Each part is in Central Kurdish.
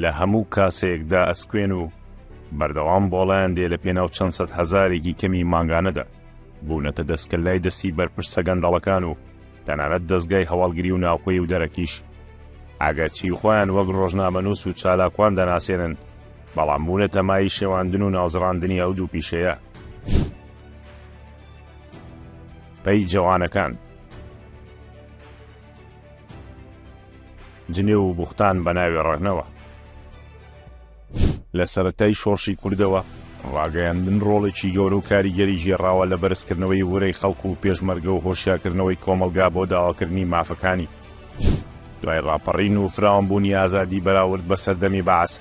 لە هەموو کاسەیەکدا ئەسکوێن و بەردەوام بۆڵیان دێ لە پێناو چەند سەد هەزارێکی کەمی مانگانەدا بوونەتە دەستکە لای دەستی بەرپرسە گەندەڵەکان و تەنانەت دەستگای هەواڵگری و ناوخۆی و دەرەکیش ئەگەرچی خۆیان وەک ڕۆژنامەنووس و چالاکوان دەناسێنن بەڵام بوونە تەمای شێواندن و ناوزڕاندنی ئەو دوو پیشەیە. پەی جەوانەکان جنێو و بوختان بە ناوێ ڕەغنەوە لە سەرەتای شۆڕشی کوردەوە ڕاگەیاندن ڕۆڵێکی گەورە و کاریگەری ژێڕاوە لە بەرزکردنەوەی ورەی خەڵکو و پێشمەرگە و هۆشیاکردنەوەی کۆمەلگا بۆ داواکردنی مافەکانی دوای ڕاپەڕین و فراوانبوونی ئازادی بەراورد بە سەردەمی بەعس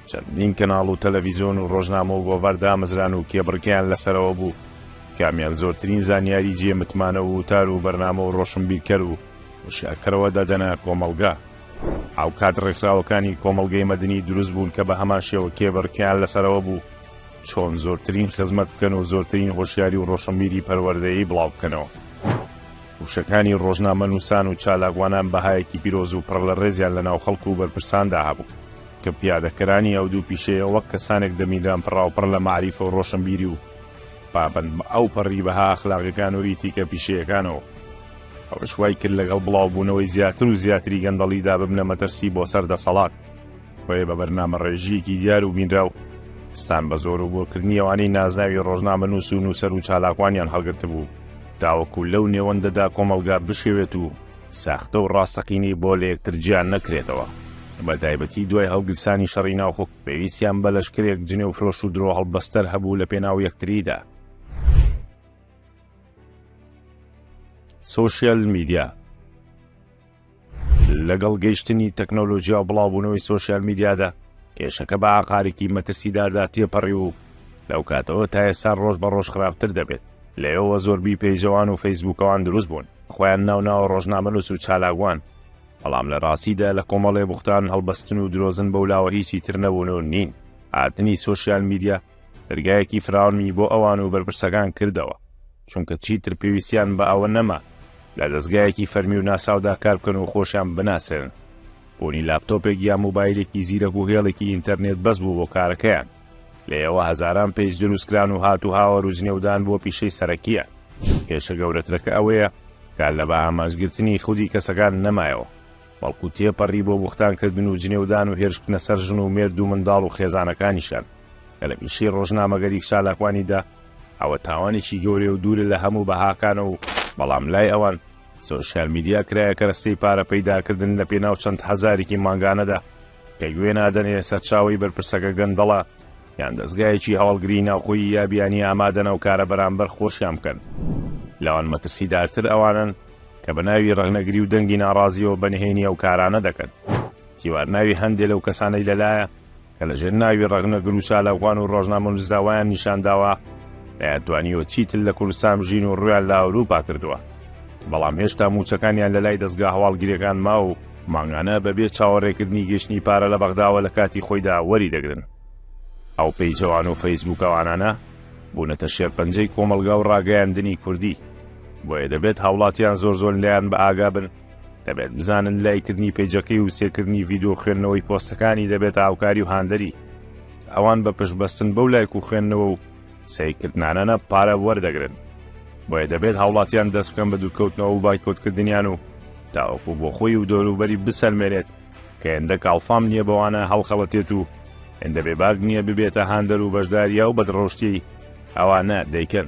چەندین کەناڵ و تەلەڤیزیۆن و ڕۆژنامە و گۆڤار دامەزران و کێبڕکیان لەسەرەوە بوو کامیان زۆرترین زانیاری جێ متمانە و وتار و بەرنامە و ڕۆشنبیرکەر و وشیارکەرەوە دەدەنە کۆمەڵگا ئەو کات ڕێکخراوەکانی کۆمەلگەی مەدنی دروست بوون کە بە هەمان شێوە کێبڕکیان لەسەرەوە بوو چۆن زۆرترین خزمەت بکەن و زۆرترین هۆشیاری و ڕۆشنبیری پەروەردەیی بڵاو بکەنەوە. وشەکانی ڕۆژنامەنووسان و چالاکوانان بەهایەکی پیرۆز و پڕ لە ڕێزیان لە ناو خەڵک و بەرپرساندا هەبوو، کە پیادەکەرانی ئەو دوو پیشەیە وەک کەسانێک دەمیلان پڕاوپڕ لە مەعریفە و ڕۆشنبیری و پابەند بە ئەوپەڕی بەها ئەخلاقیەکان و ئیتیکە پیشەیەکانەوە، ئەوەش وایکرد لەگەڵ بڵاوبوونەوەی زیاتر و زیاتری گەندەڵیدا ببنە مەترسی بۆ سەر دەسەڵات. بۆیە بە بەرنامەڕێژییەکی دیار و بینراو ستان بە زۆر و بۆرکردنی ئەوانەی نازناوی ڕۆژنامەنووس و نووسەر و چالاکوانیان هەڵگرتبوو تاوەکو لەو نێوەندەدا کۆمەڵگا بشێوێت و ساختە و ڕاستەقینەی بۆ لە یەکتر جیا نەکرێتەوە. بە تایبەتی دوای هەڵگیرسانی شەڕی ناوخۆ پێویستیان بە لەشکرێک جنێوفرۆش و درۆهەڵبەستەر هەبوو لەپێناو یەکتریدا. سۆشیال میدیا لەگەڵ گەیشتنی تەکنۆلۆژیا و بڵاوبوونەوەی سۆسیال میدیادا کێشەکە بە ئاقارێکی مەترسیداردا تێپەڕی و لەو کاتەوە تا ئێستا ڕۆژ بە ڕۆژ خراپتر دەبێت لەیەوە زۆربی پێیجەوان و فەیسبووکەوان دروست بوون خۆیان ناوناوە ڕۆژنامەنووس و چالاگوان بەڵام لە ڕاستیدا لە کۆمەڵێ بوختان هەڵبەستن و درۆزن بەو لاوە هیچی تر نەبوون و نین هاتنی سۆسیال میدیا دەرگایەکی فراونمی بۆ ئەوان و بەرپرسەکان کردەوە چونکە چیتر پێویستیان بە ئەوە نەما لە دەزگایەکی فەرمی و ناساودا کار بکەن و خۆشیان بناسێنن بوونی لاپتۆپێک یا موبایلێکی زیرەک و هێڵێکی ئینتەرنێت بەس بوو بۆ کارەکەیان لەیەوە هەزاران پێج دروستکران و هات و هاوە روزنێودان بۆ پیشەی سەرەکیە کێشە گەورەترەکە ئەوەیە کار لە بە ئامانجگرتنی خودی کەسەکان نەمایەوە بەڵکو تێپەڕی بۆ بوختانکردن و جنێودان و هێرشکنە سەر ژن و مێرد و منداڵ و خێزانەکانیشان کە لە پیشەی ڕۆژنامەگەری شالاکوانیدا ئەوە تاوانێکی گەورەیە و دوورە لە هەموو بەهاکانە و بەڵام لای ئەوان سۆشیال میدیا کرایە کەرەستەی پارە پەیداکردن لە پێناو چەند هەزارێکی مانگانەدا کە گوێ نادەنێ سەرچاوی بەرپرسەکە گەندەڵە یان دەستگایەکی هەواڵگری ناوخۆی یا بیانی ئامادەنە و کارە بەرامبەر خۆشیان بکەن لەوان مەترسیدارتر ئەوانن کە بە ناوی ڕەغنەگری و دەنگی ناڕازیەوە بەنهێنی ئەو کارانە دەکەن تیوارناوی هەندێ لەو کەسانەی لەلایە کە لە ژێر ناوی ڕەخنەگر و چالاکوان و ڕۆژنامەنووسدا وایان نیشان داوە نەیانتوانیوە چیتر لە کوردستان بژین و ڕوویان لە ئەورووپا کردووە، بەڵام هێشتا مووچەکانیان لە لای دەزگا هەواڵگرییەکان ماوە و مانگانە بە بێ چاوەڕێکردنی گەیشتنی پارە لە بەغداوە لە کاتی خۆیدا وەری دەگرن. ئەو پەیجەوان و فەیسبووکەوانانە بوونەتە شێرپەنجەی کۆمەڵگا و ڕاگەیاندنی کوردی، بۆیە دەبێت هاوڵاتیان زۆر زۆر لێیان بە ئاگا بن، دەبێت بزانن لایکردنی پێجەکەی و سێکردنی ڤیددیو خوێندنەوەی پۆستەکانی دەبێت هاوکاری و هاندەری ئەوان بە پشتبەستن بەو لایک و خوێندنەوە و سیکردنانەنە پارە وەردەگرن بۆیە دەبێت هاوڵاتیان دەست بکەن بە دوورکەوتنەوە و بایکۆتکردنیان و تاوەکو بۆ خۆی و دەوروبەری بسەلمێنێت کە هێندە کاڵفام نییە بەوانە هەڵخەڵەتێت و هێندە بێباک نییە ببێتە هاندەر و بەشداریا و بەدڕۆشتی ئەوانە دەیکەن.